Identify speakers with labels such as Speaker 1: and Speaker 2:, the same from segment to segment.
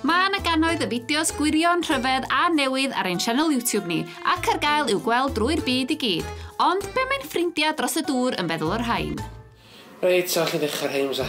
Speaker 1: Mae yna gannoedd y fideos gwirion, rhyfedd a newydd ar ein sianel YouTube ni, ac ar gael i'w gweld drwy'r byd i gyd. Ond be mae'n ffrindiau dros y dŵr yn feddwl o'r rhain? Reit, so
Speaker 2: allai ddechrau'r rheims a...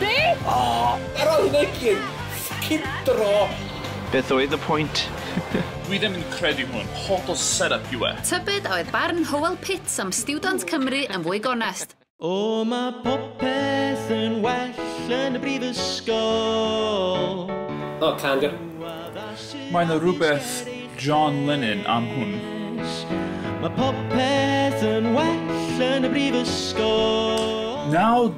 Speaker 3: Be?
Speaker 4: O! Yr
Speaker 2: oedd yn egin! Ffycin dro! Beth oedd
Speaker 5: y pwynt? Dwi ddim yn
Speaker 6: credu hwn, hollol set up yw e. Tybed a oedd barn
Speaker 1: Howell Pitts am stiwdant Cymru yn fwy gonest? O ma
Speaker 7: popeth yn well yn y brifysgol.
Speaker 2: O, cân go. Mae
Speaker 6: 'na rywbeth John Lennon am hwn. Ma
Speaker 7: popeth yn well yn y brifysgol. Nawr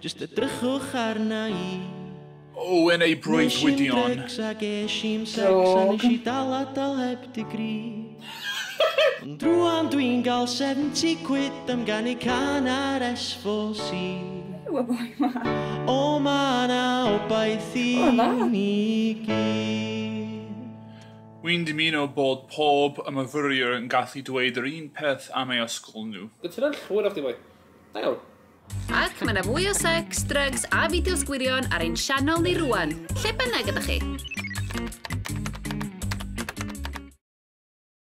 Speaker 7: Just edrychwch arna i. O, yn
Speaker 6: ei breuddwydion. Nes i'n dregs a ges
Speaker 7: i'n sex a nes i dal a dal heb degree. Ond rwan dwi'n gael 70 quid am ganu can ar S4C. Ww, y boi ma. O, ma na obaith i ni gyd. Wi'n
Speaker 6: dymuno bod pob y myfyriwr yn gallu dweud yr un peth am eu ysgol nhw. Cytuno'n llwyr â chdi, boi.
Speaker 2: Da iawn. Ac mae yna
Speaker 1: fwy o sex, drugs a fideos gwirion ar ein sianel ni rwan, lle bynnag ydych chi.